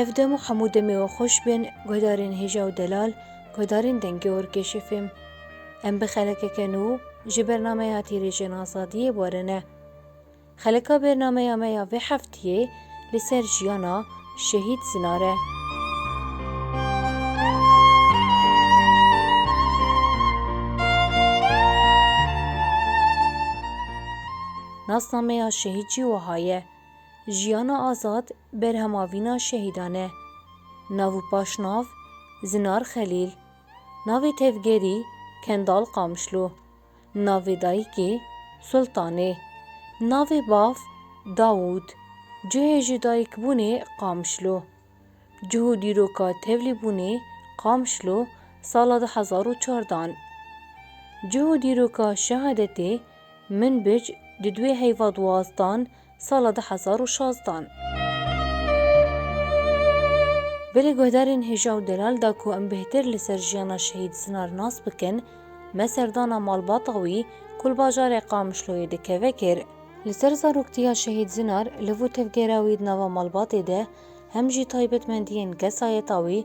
Ev dem û hemû demê we xweş bin guhdarên hêja û delal, guhdarên dengê orkêşê fêm. Em bi xelekeke nû ji bernameya Tîrêjên Azadiyê warine. Xelika bernameya me ya vê heftiyê li ser jiyana Şehîd Zinar e. Nasnameya şehîd jî wiha ye, Jiyana azad berhema vîna şehîdan e. Nav û paşnav, Zinar Xelîl. Navê tevgerî, Kendal Qamişlo. Navê dayikê Sultan e. Navê bav Dawûd. Cihê jidayikbûnê Qamişlo. Cih û dîroka tevlîbûnê Qamişlo sala du hezar û çar dan. Cih û dîroka şehadetê Minbic di duê heyva duwazdan sala du hezar û şazdan. Berê guhdarên hêja û delal da ku em bêhtir li ser jiyana Şehîd Sinar nas bikin, me serdana malbata wî ku li bajarê Qamişloyê dikeve kir. Li ser zaroktiya Şehîd Sinar, li vû tevgera wî di nava malbatê de hem jî taybetmendiyên kesayeta wî,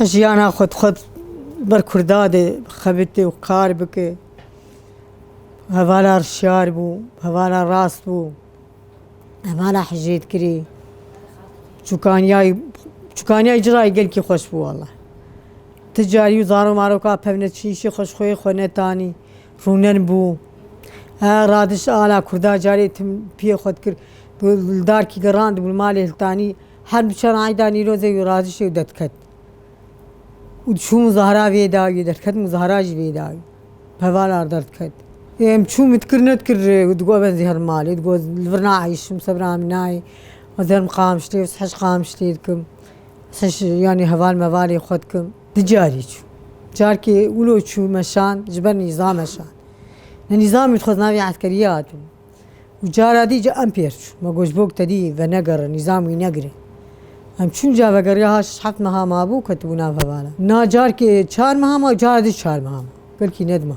Jiyana xwe dixwest li ber Kurda de bixebite û kar bike. Hevala rişyar bû, hevala rast bû, hevala hijêtkirî. Çûkaniyayî çûkaniyayî cira yî gelkî xweş bû wela. Ti carî û zarok maroka pevneçiyîşê xwe ji xweyê xwe netanî, rûnen bû. He radiş ala Kurda carê tim piyê xwe dikir. Li darkî gerandibû li malê Hiltanî. Her du çar ayda Nîrozê û Razişê û derdiket û diçû muzahara vê dayî derdiket muzahara jî vê dayî pevalar derdiket. Em çû min dikir nedikir digot ben zêr malê digot li vir naayîşim sebra min nayê zêr min qamiştê ez hej qamiştê dikim ez hej yanî heval mevalê xwe dikim. Di carî çû carkê wilo çû meşan ji ber nîzam meşan nîzamê dixwest navê eskeriya hatibû. Û cara dî ca em pêr çûn. Ma got, Bok te dî venegere, nîzam wî negire. Em çûn ca vegeriya ha şeş heft meha mabû, ketibû nav hevala. Na carkê çar meha ma, cara dî çar meha ma. Belkî nedima.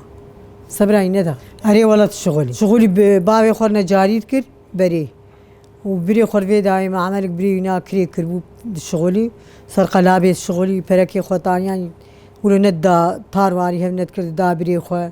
Sebirayî neda. Erê wela tu şixul î. Şixul î bi bavê xwe re ne carî dikir berê. Û birê xwe re vê dayê me emelek birê wî na kirê kiribû di şixul î. Ser qelabê di şixul î, perekê xwe taniyan î. Wilo nedida tar warî hev nedikir dida birê xwe.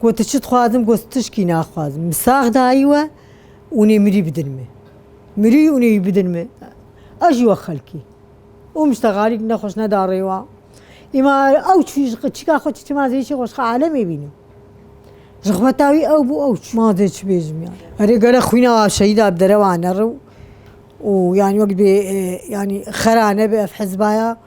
Got tu çi dixwazim got tu tişkî naxwazim min sax dayî we û nê mirî bidin min mirî û nê wî bidin min ew jî wek xelkî û muştegalîk nexweş neda rêwa îma ew çû ji çîka xwe çû ma zêçê xwe ji alemê bînin ji xweta wî ew bû ew çû ma zê çi bêjim ya erê gele xwîna wa şehîda bi derewa nere û yanî wek bê yanî xera nebe ev hizba ya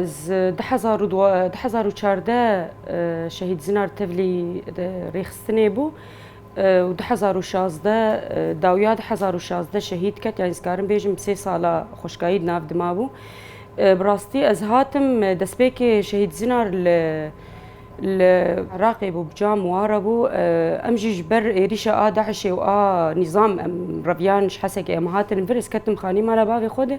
Ez du hezar û du hezar û çardeh Şehîd Zinar Tevlî rêxistinê bû û du hezar û şazdeh dawiya du hezar û şazdeh şehîd ket yanî dikarim bêjim sê sala xweşkayî di nav di mabû. Bi rastî ez hatim destpêkê Şehîd Zinar li li Iraqê bû bi ca miwara bû. Em jî ji ber êrîşa a DAIŞ'ê û a nîzam em reviyan ji Hesekê em hatin vir ez ketim xanî mala bavê xwe de.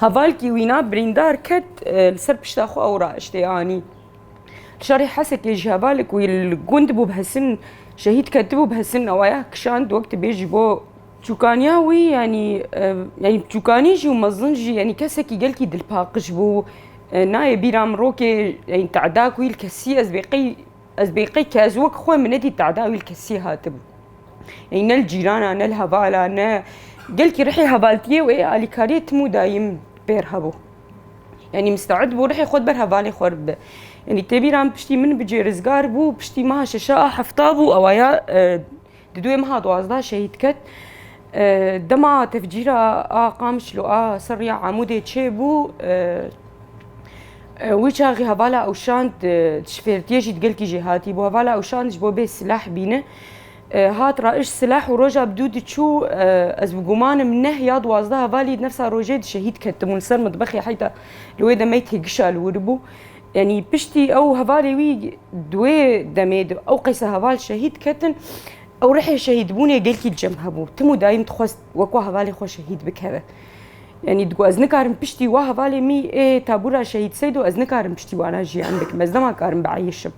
Hevalkî wîna birîndar ket li ser pişta xwe û raiştê anî. Li şerê Hesekê jî hevalê ku li gund bû bi hesin şehîd ketibû bi hesin newaya kişand wek tu bêjî bo Çûkaniya wî yanî yanî çûkanî jî û mezin jî yanî kesekî gelkî dilpaqij bû. Nayê bîra min rokê yanî teda ku wî li kesî ez bê qey Ez bêqey ke ez wek xwe min nedî tedawî li kesî hatibû. Ey ne li cîrana ne li hevala ne gelkî rihê hevaltiyê wê alîkariyê tim û dayîm pêr hebû. Yanî misteid bû rihê xwe di ber hevalê xwe re bibe. Yanî têbîra min piştî min bicê rizgar bû piştî meha şeşaa hefta bû ewaya Di duê meha duwazdeh şehîd ket. Dema tevcîra a Qamişlo û a Serrî ya Amûdê çêbû wî çaxî hevala Ewşan dişpêrtîye jî digelkî jê hatîbû. Hevala Ewşan ji bo bê silah bîne hat ra iş silah û roja bi dû diçû ez bi gumanim neh ya duwazdeh hevalî di nefsa rojê di şehîd ketibûn li ser mitbexê heyta li wê demeyî têgişa li wir bû. Yanî piştî ew hevalê wî di wê demê di ew qeysa heval şehîd ketin ew rihê şehîdbûnê gelkî cem hebû. Tim û dayim dixwest wekwa hevalê xwe şehîd bikeve. Yanî digot ez nikarim piştî wa hevalê mî ê tabûra şehîd seydo ez nikarim piştî wana jiyan bikim. Ez nema karim bieyişim.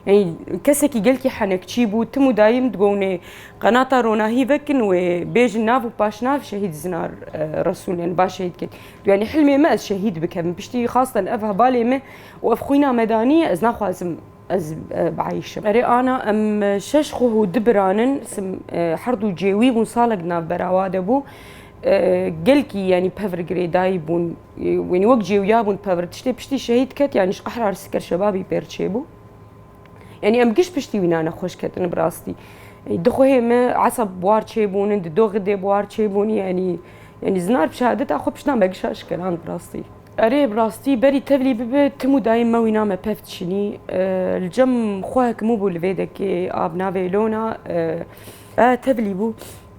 Yani kesekî gelkî henekçî bû tim û dayîm digonê qenata ronahî vekin wê bêjin nav û paşnav şehîd zinar e, Resûl yani baş şehîd kir. Yani hilmê me ez şehîd bikim. Piştî xastan ev hevalê me û ev xwîna me danî ez naxwazim ez e, biayîşim. Erê ana em e, şeş xwe û du biranin sim e, her du cêwî bûn salek navbera wa de bû. E, gelkî yani pevirgirê dayî bûn. Wînî wek cêwya bûn tevir tiştê piştî şehîd ket yanî ji qehra Rsiker şebabî pêr çêbû. Yanî em giş piştî wîna ne xweş ketin bi rastî. Di xwehê me esab buar çêbûnin, di doxê dê buar çêbûnî yanî yanî zinar bi şehadeta xwe pişta me gişa şikeran bi rastî. Erê bi rastî berî tevlî bibe tim û dayîn me wîna me pev tişinî. Li cem xwe hekimû bû li vê dekê a bi navê Lona tevlî bû.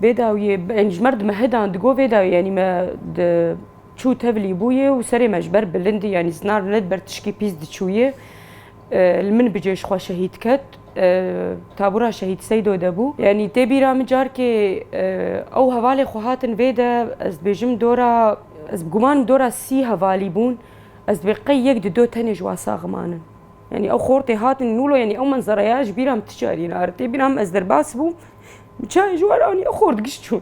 Vê dawiyê yanî ji merdime hedan digo vê dawiyê yanî me di Çû tevlî bûye û serê me ji ber bilindî yanî zinar ne li ber tişkî pîs diçûye. Li min bi cêj xwe şehîd ket. Tabûra şehîd Seydo de bû. Yanî tê bîra min carkê ew hevalê xwe hatin vê de ez dibêjim dora ez bi guman im dora sî hevalî bûn. Ez dibê qey yek di do tenê ji wan sax manin. Yanî ew xortê hatin nûlo yanî ew menzereya ji bîra min ti carî nare. Tê bîra min ez derbas bûm bi çayê ji wan anî ew xort giş çûn.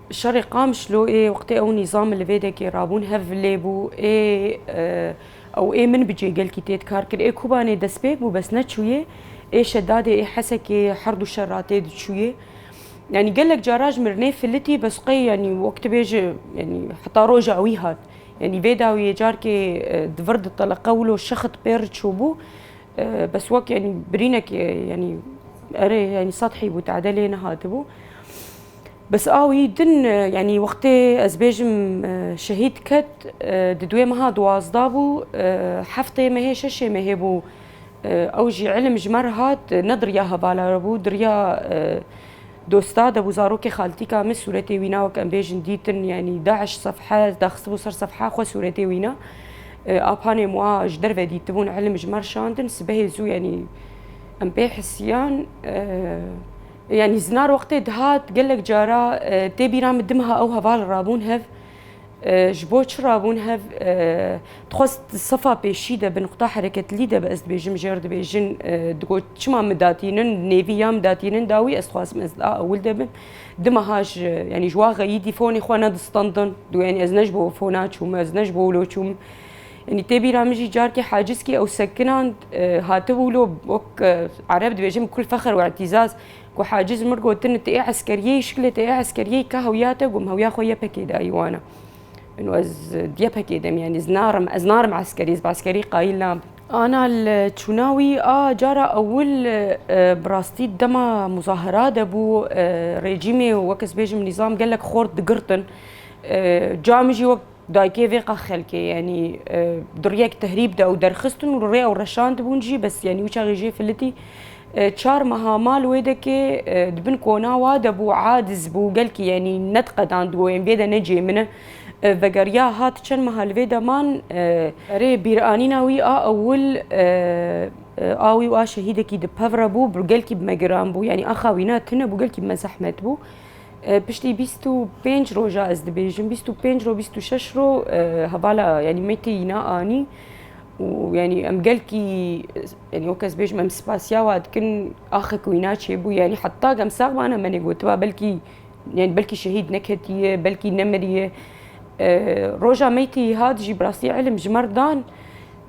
Şerê Qamişloê wextê ew nîzam li vê dekê rabûn hev lê bû ê ew ê min bicê gelkî têd kar kir ê Kobanê destpêk bû bes neçûyê ê şedadê ê Hesekê herdû şer ra têd çûyê yanî gelek cara ji mirinê filitî bes qey yanî wek tu bêje yanî heta roja wî hat yanî vê dawiyê carkê di vir di teleqe wilo şexit pêr çûbû bes wek yanî birînekê yanî erê yanî sethî bû tade lê nehatibû. Bes a wî din yanî wextê ez bêjim şehîd ket di duê meha duwazdeh bû, heftê mehê şeşê mehê bû ew jî îlim ji me re hat ne diriya hevala re bû diriya dosta de bû zarokê xaltîka min sûretê wî na wek em bêjin dîtin yanî daiş sefhe daxistibû ser sefha xwe sûretê wî na apanê wan ji derve dîtibûn îlim ji me re şandin sibehê zû yanî em pê hisiyan Yanî zinar wextê dihat gelek cara tê bîra min dimha ew heval rabûn hev. Ji bo çi rabûn hev? Dixwest sefa pêşî de bi nuqta hereketlî de bi ez dibêjim jêr dibêjin digot çima min datînin nêvî ya min datînin dawî ez dixwazim ez a ewil de bim. Dimeha ji yanî ji wa xeyîdî fonê xwe nedistandin. Dû yanî ez ne ji bo fona çûm ez ne ji bo wilo çûm. Yanî tê bîra min jî carkê Haciskî ew sekinan hatibû lo wek ereb dibêjin bi kul fexr û îtîzaz ku Haciz mir gotin ti yê eskeriyê şikilê ti yê eskeriyê ka hewya te gom hewya xwe YPK'ê dayî wan e. Ino ez di YPK'ê de me yanî ez narim ez narim eskerî ez bi eskerî qayîl nabim. Ana li çûna wî a cara ewil bi rastî dema muzahera de bû rejîmê û wek ez bêjim nîzam gelek xort digirtin. Ca min jî wek Dayikê vê qex xelkê yanî di riyek tehrîb de û derxistin û rê ew reşandibûn jî bes yanî wî çaxê jê filitî çar meha mal wê dekê di bin kona wa de bû adiz bû gelkî yanî nediqedand goyên vê de ne cê min e vegeriya hat çend meha li vê de man rê bîranîna wî a ewil a wî û a şehîdekî di pev re bû gelkî bi me giran bû yanî axa wî ne tune bû gelkî bi me zehmet bû Piştî bîst û pênc roja ez dibêjim bîst û pênc roj bîst û şeş roj hevala yanî me têyîna anî û yanî em gelkî yanî wek ez bêjim em spasiya wa dikin axê ku wîna çêbû yanî heta em sax bana me nêgotiba belkî yanî belkî şehîd neketiye belkî nemiriye roja me têyî hat jî bi rastî ilim ji mer dan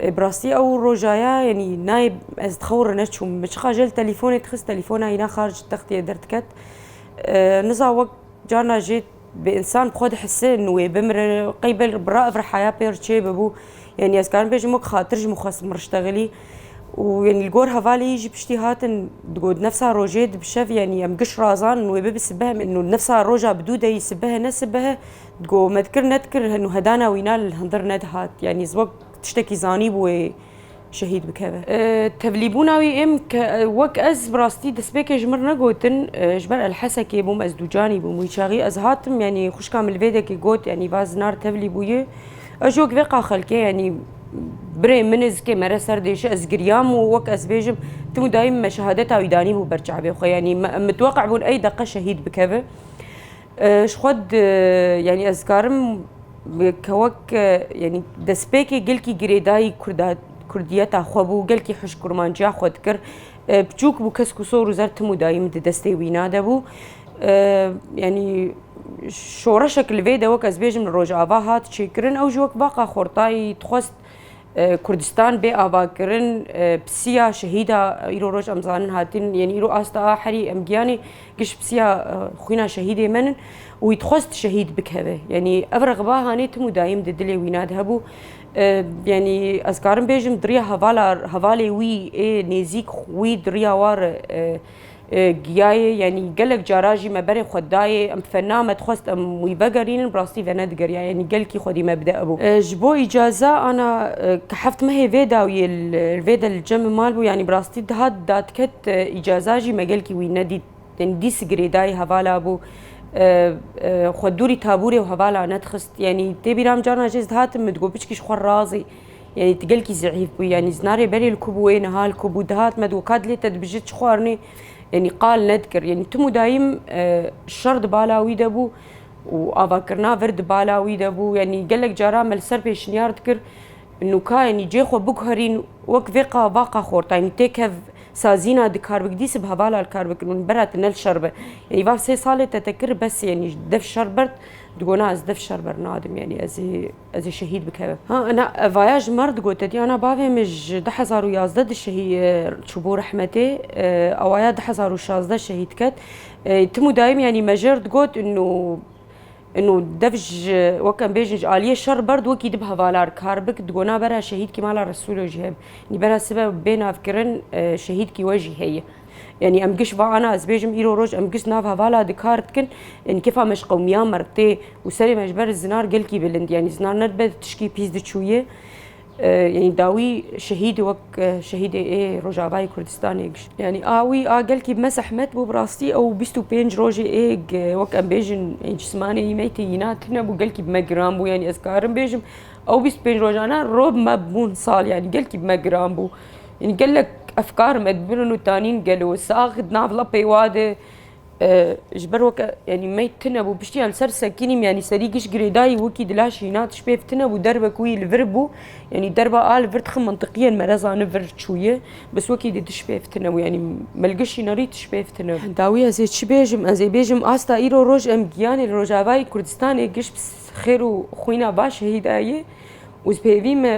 Bi rastî ew roja ye yanî nayê ez di xew re neçûm. Min çiqa jê li telîfonê dixist telîfona hîna xaric textiyê derdiket. Niza wek carna jê bi însan bi xwe dihise in wê bimire qey bi ra ev rihaya pê re çê bibû. Yanî ez karim bêjim wek xatir ji min xwest min riştexilî û yanî li gor hevalê yî jî piştî hatin digot nefsa rojê di bi şev yanî em giş razan in wê bibi sibeh min û nefsa roja bi dû de yî sibehe ne sibehe Go me dikir nedikir nuhedana wî na li hundir nedihat. Yanî ez wek tiştekî zanîbû wê şehîd bikeve. Tevlîbûna wî êm ke wek ez bi rastî destpêkê ji min re gotin ji ber Elhesekê bûm ez dûcanî bûm. Wî çaxî ez hatim yanî xwişka min li vê dekê got yanî va zinar tevlî bûye. Ez ji wek vê qa xelkê yanî birê min ê zikê me re ser dêşe ez giryam û wek ez bêjim tim û dayî min me şehadeta wî danîbû ber çavê xwe yanî me mitweqe bûn ey deqe şehîd bikeve. Ji xwe yanî ez dikarim ke wek yanî destpêkê gelkî girêdayî Kurda Kurdiyeta xwe bû, gelkî hişk kurmanciya xwe dikir. Piçûk bû kesk û sor û zer tim û dayî min di destê wî na de bû. Yanî şoreşek li vê de wek ez bêjim li Rojava hat çêkirin ew jî wek baqa Xortayî dixwest Kurdistan bê avakirin pisiya şehîda îro roj em zanin hatin yên îro asta a herî em giyanê giş pisiya xwîna şehîdê me nin û wî dixwest şehîd bikeve yanî ev rexiba hanê tim û dayîm di dilê wîna di hebû yanî ez karim bêjim diriya hevala hevalê wî ê nêzîk wî diriya war Giyayê yanî gelek cara jî me berê xwe dayê. Em fena me dixwest em wî vegerînin bi rastî venedigeriya yanî gelkî xwedî me bide bû. Ji bo îcaza ana ke heft mehê vê dawiyê li vê de li cemê mal bû yanî bi rastî dihat dadiket îcaza jî me gelkî wî nedît yanî dîs girêdayî hevala bû xwe dûrî tabûrê û hevala nedixist yanî tê bîra min carna jê ez dihatim min digot piçkî ji xwe razî Yanî tu gelkî zehîf bûyî, yanî zina rêberê li ku bû wê niha li ku bû dihat me digot ka dilê te dibije çi xwarinê yanî qal nedikir. Yanî tim û dayîm e, şer di bala wî de bû û avakirina vir di bala wî de bû. Yanî gelek caran me li ser pêşniyar dikir nûka yanî cê xwe biguherîn wek vê qa va qa xorta yanî têkev sazîna di kar bik dîsib hevala li kar bikin û bera te ne li şer be. Yanî van sê salê te te kir bes yanî dev şer bert digona ez dev şer ber nadim yanî ez ê Ez ê şehîd bikevim. Ha ana vaya ji mar digote dî ana bavê min ji du hezar û yazdeh di şehî çû bo rehmetê awaya du hezar û şazdeh şehîd ket. Tim û dayim yanî me jêr digot û û dev ji wek em bêjin ji aliyê şer berd wekî dibe hevalar kar bik digo na bera şehîdkî mala Resûlo jî hebe. Nî bera sibe bê navkirin şehîdkî we jî heye. Yanî em giş va ana ez bêjim îro roj em giş nav hevala di kar dikin yanî kêfa me ji qewmiya me re tê û serê me ji ber zinar gelkî bilind yanî zinar ne dibe tişkî pîs diçûyê yanî dawî şehîd wek şehîdê ê Rojavayê Kurdistanê giş yanî a wî a gelkî me zehmet bû bi rastî ew bîst û pênc rojê ê wek em bêjin cismanê wî meytê îna tune bû gelkî bi me giran bû yanî ez karim bêjim ew bîst pênc rojana rob me bûn sal yanî gelkî bi me giran bû Ynî gelek efkar me dibînin û tanîn gelo sax di nav lapê wa de ji ber weke yanî mey tune bû piştî em ser sekînîm yanî serî giş girêdayî wekî di laşê înan tişt pêv tune bû derve ku wî li vir bû yanî derva a li vir dixin mintiqîyên me re zani vir çûye bis wekî dê tişt pêv tune bû yanî mil giş înan rî tişt pêv tune bû. Dawî ez ê çi bêjim ez ê bêjim asta îro roj em gîyanê li rojavayê kurdistanê giş bi xêr û xwîna baş şehîdayê Û pêvî me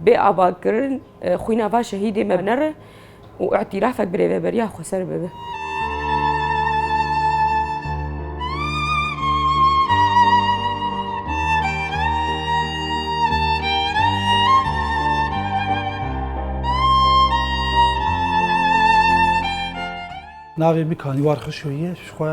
bê avakirin xwîna va şehîdê me nere û îtîrafek bi rêveberiya Xweser bibe. Navê min Kaniwar Xişo ye, ji xwe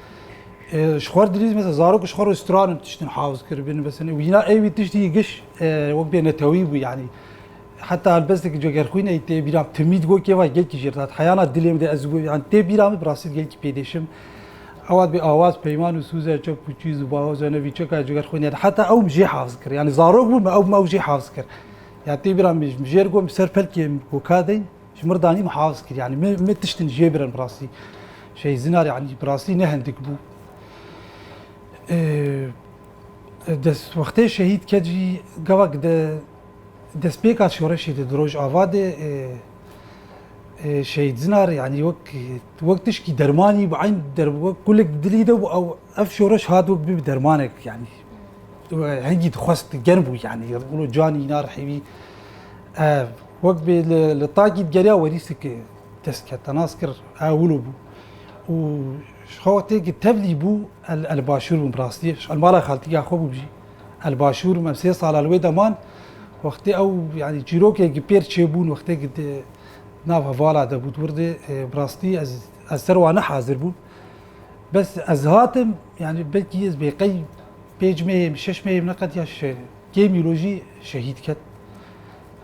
Ji xwe dilîz mesela zarok ji xwe re stranin tiştin havz kiribin mesela wîna ê wî tiştî giş wek bê netewî bû yanî. Heta helbestekî cogerxwînê tê bîram timîd got kê vay gelkî jêr dat heyana dilê min de ez yan tê bîra min bi rastî di gelkî pêdêşim. Ewa bê awaz peyman û sûze çek û çîz û bahoz ne vî çeka cogerxwînê de heta ew min jê havz kir yanî zarok bû me ew min ew jê havz kir. Ya tê bîra min jêr got min ser pelkê min koka deyn Ji mir danî min hez kir yanî me me tiştin jê birin bi rastî şey zinar yanî bi rastî ne hindik bû. Dest wextê şehîd ket jî gavak de destpêka şoreşê de di Rojava de şey zinar yanî wek wek tişkî dermanî bi eyn der wek kulek di dilî de bû ew ev şoreş hat wek bi dermanek yanî hingî dixwest germ bû yanî canî inar hêvî ev Wek bi li tagî digeriya werîstikê dest ket, te nas kir ew wilo bû û ji xewtê ku tevlî bû el li başûr bûm bi rastî ji mala xaltîka xwe bûm jî el başûr bûm em sê sala li wê de man wextê ew yanî çîrokê ku pêr çêbûn wextê ku di nav hevala de bû dûr dê bi rastî ez ez ser wan nehazir bûm bes ez hatim yanî belkî ez bê qey pêc meyê min şeş meyê min ne qetiya kêm îro jî şehîd ket.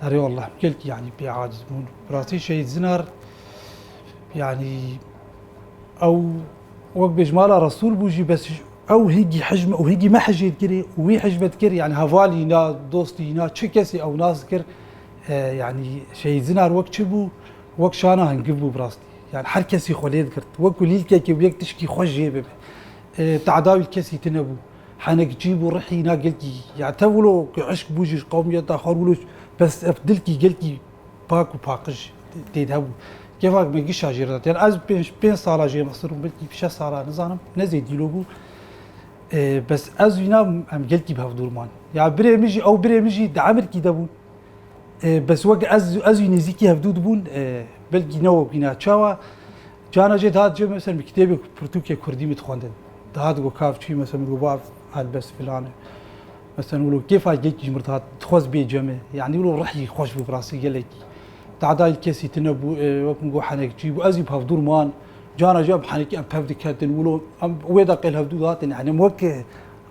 Erê Allah gelkî yanî pê aciz bûn. Bi rastî Şehîd Zinar yanî ew wek bêj mala Resûl bû jî bes ew hêgî hicm û hêgî me hicê dikirê û wî hicm dikir yanî hevalî na dostî na çi kesî ew nas dikir yanî Şehîd Zinar wek çi bû wek şana hingir bû bi rastî. Yani her kesî xwe lê digirt. Wekû lîlkekê bû yek tişkî xwe jê bibe. Te'dawî li kesî tune bû. Henek cî bû rihî na gelkî ya te wilo ke eşq bû jî qewmiyeta xwe wilo bes ev dilkî gelkî pak û paqij tê de hebû. Kevak me gişa jê re dat. Yan ez pênc pênc sala jê Misir bûm belkî şeş sala nizanim ne zêdî lo bû. Bes ez û îna em gelkî bi hev dûr man. Ya birê min jî ew birê min jî di emirkî de bûn. Bes wek ez ez û nêzîkî hevdû dibûn belkî ne wek wîna. Çawa? Carna jî dihat cih mesela min kitêbê pirtûkê kurdî min dixwendin. Dihat got ka çi mesela min got bav helbest filan e. Mesela min got kêfa gek ji min re dihat dixwest bê cemê. Yanî min got rihî xweş bû bi rastî gelekî. Tehdayî kesî tune bû ê wek min got henekçî bû. Ez jî bi hevdûr man. Carna jî em henekî em tev diketin wilo em wê deqê li hevdû dihatin yani em wek bi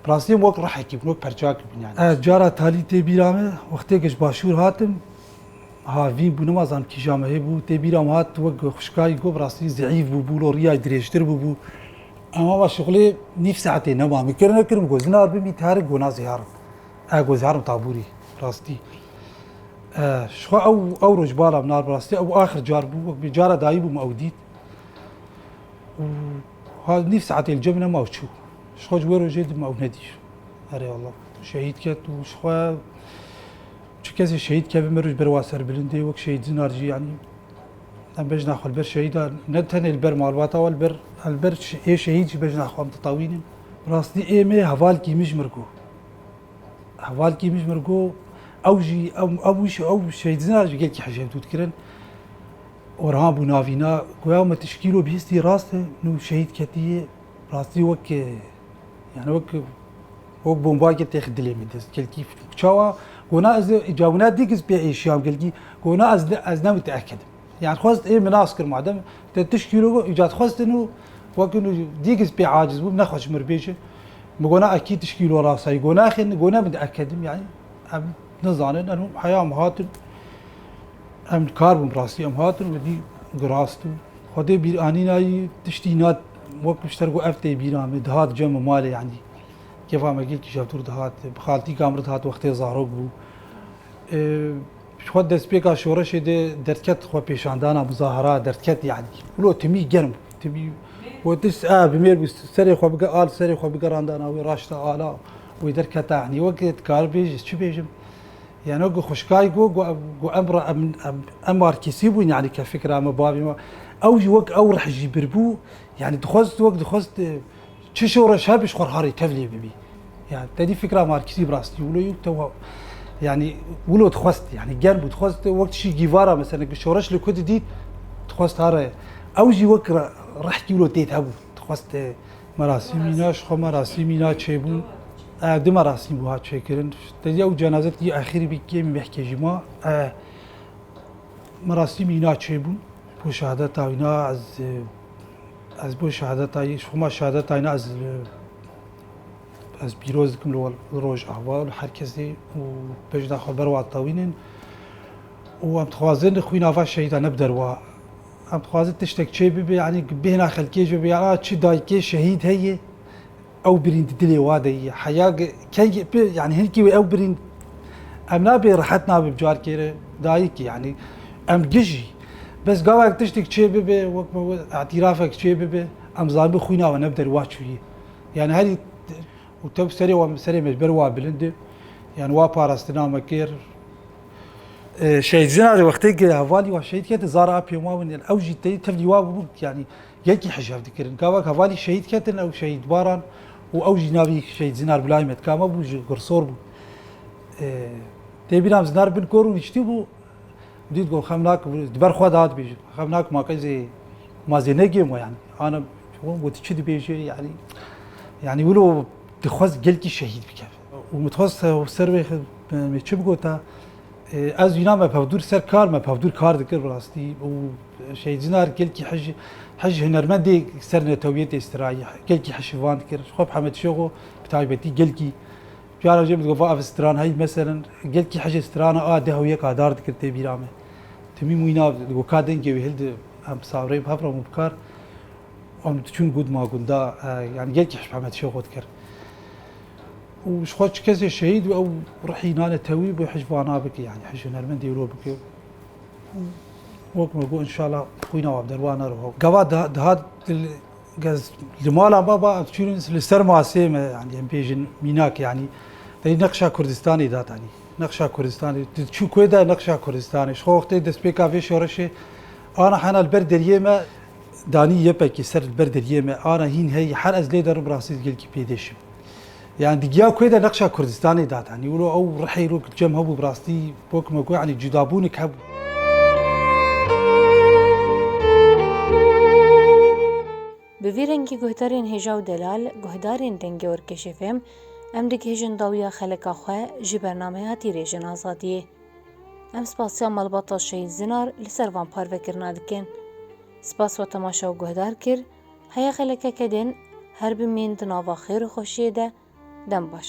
rastî em wek rihekî bin wek perçakî bin yani. Cara talî tê bîra me wextêk ji başûr hatim Harvî bû, nimazan kîja me hebû. Tê bîra min hat wek xwişkayî got bi rastî zeîf bûbû lo rîyayî dirêjtir bûbû. Em ava şixulê nîv saetê nema. Min kir nekir min got zinar bimî terik got na zêharim. Ez got zêharim tabûrî rastî. Şixwe ew ew roj bala min ar bi rastî ew axir car bû wek bi cara dayî bû min ew dît. Ha nîv saetê li cem nema û çû. Şixwe ji wê rojê di min ew nedît. Erê Allah. Şehîd ket û şixwe Çi kesê şehîd keve mir û ji ber wan serbilindê wek şehîd zinar jî yanî em bejna xwe li ber şehîda ne tenê li ber malbata wan li ber li ber ê şehîd jî bejna xwe em ditawînin. Bi rastî êmê heval kîmij mir got. Heval kîmij mir got ew jî ew wî şe ew şehîd zinar jî gelkî hicê dû dikirin. Orhan bû navîna goya me tişkîlo bihîstî rast e nû şehîd ketî yê rastî wek Yani wek wek bombakê têx dilê min dest gelkî çawa gona ez cawina dîk ez pê êşiyam gelkî gona ez ez ne müteekid. Yani xwest ê min nas kir madem te tişkî ro îcat xwestin û wek dîk ez pê aciz bûm nexweş mir bêje min gona ekî tişkî lo rasayî gonaxin gona min ekedim yani em nizanin em heya min hatin Em dikar bûn bi rastî. Em hatin û dî girast û Xwedê bîranîna yî tiştî na wek ji ter got ev tê bîran min. Dihat cem û malê yanî kêfa me gelkî jewtir dihat. Bi xaltîka min re dihat wextê zarok bû. Xwe destpêka şoreşê de derdket xwe pêşandana muzahara derdket yanî. Wilo timî germ bû. Timî got is a bi mêr bû serê xwe bige al serê xwe bigerandana wê raşta ala wê derketa yanî. Wek dikaribêj ez çi bêjim. Yeno ku xwişkay got ku em re em em markîsî bûn yanî ke fikra me bavê me ew jî wek ew rih jî birbû yanî dixwest wek dixwest çi şoreş hebe ji xwe re harê tev lê bibî. Ya tedî fikra markîsî bi rastî wilo yû te yanî wilo dixwest yanî germ bû dixwest wek tişî gîvara mesele ku şoreş li ku didît dixwest hare ew jî wek rihkî wilo têt hebû dixwest Merasîmî na ji xwe merasîmî na çêbûn. Ev du merasîm wiha çêkirin. Tedî ew cenaze tedî axîrî bî kêm mehkê jî ma. Merasîmî na çêbûn. Bo şehadeta wî na ez ez bo şehadeta ji xwe ma şehadeta wî na ez ez pîroz dikim li Rojava li her kesê û bejna xwe ber wan tewînin. û em dixwazin xwîna van şehîdan ne bi derwa Em dixwazin tiştek çê bibe yanî bi bêhna xelkê jî bibe a çi dayikê şehîd heye ew birîn di dilê wa de ye heya kengî pê yanî hin kî wê ew birîn em nabê rehet nabe bi carkê re dayikî yanî em gijî bes gavek tiştek çê bibe wek me got îtîrafek çê bibe em zanibin xwîna we ne bi derwa çûye yanî herî û tew serê wan bi serê me ji ber wa bilind e yanî wa parastina me kir. Şehîd jina de wextê ki hevalî wan şehîd ketin zara a pêma win ên ew jî tê tevlî wa bûn yanî yekî hijav dikirin. Gavak hevalî şehîd ketin ew şehîd baran û ew jî navî şehîd zinar Bilay Metkame bû ji Gursor bû. Tê bîram zinar bin kor û niştî bû dît got xem nak di ber xwe de hat bêjin. Xem nak ma qey zê ma zê negê ma yanî. Ana got çi dibêje yanî yanî wilo dixwest gelkî şehîd bike. û min dixwest ew ser wê me çi bigota, ez înan me pevdûr ser kar me pevdûr kar dikir bi rastî û Şehîdjinar gelkî hej hej hunermendê ser netewiyê tê strayî gelkî hişivan dikir ji xwe bi Hemed Şêxo bi taybetî gelkî cara jê min digot va ev stran heyî meselin gelkî hejê strana a deh û yek a dar dikir tê bîra me timî mûyna digot ka dengê wî hildi em bi sabrê bi hev re min bikar em diçûn gund ma gunda yani gelkî hej bi Hemed Şêxo dikir û ji xwe çi kesê şehîd bû ew rihî nane tewî bû hej vana bike yani hej hunermend dêro bike û wek me got inşallah xwîna wan derwa nero. Gava dihat gez li mala me ba çûn li ser masê me yani em pê jin mînak yani Dayî nexşa Kurdistanê da tanî. Nexşa Kurdistanê. Çû kuê da nexşa Kurdistanê. Ji xwe wextê destpêka vê şoreşê Ana hena li ber deriyê me danî yepekî ser li ber deriyê me ana hîn heyî her ez lê derim rastî gelkî pêdêşim. Yani di giya kuê de nexşa Kurdistanê dat. Hani wilo ew rihê rok cem hebû rastî bok me ku hani cudabûnik hebû. Bi vî rengî guhdarên hêja û delal, guhdarên dengê Orkeşê fêm, em digihêjin dawiya xelika xwe jî bernameya tîrêjin azadiyê. Em spasiya malbata Şehîd Zinar li ser van parvekirina dikin. Spas we temaşe û guhdar kir, heye xeleke kedên her bimîn di nava xêr û xweşiyê de, dem baş.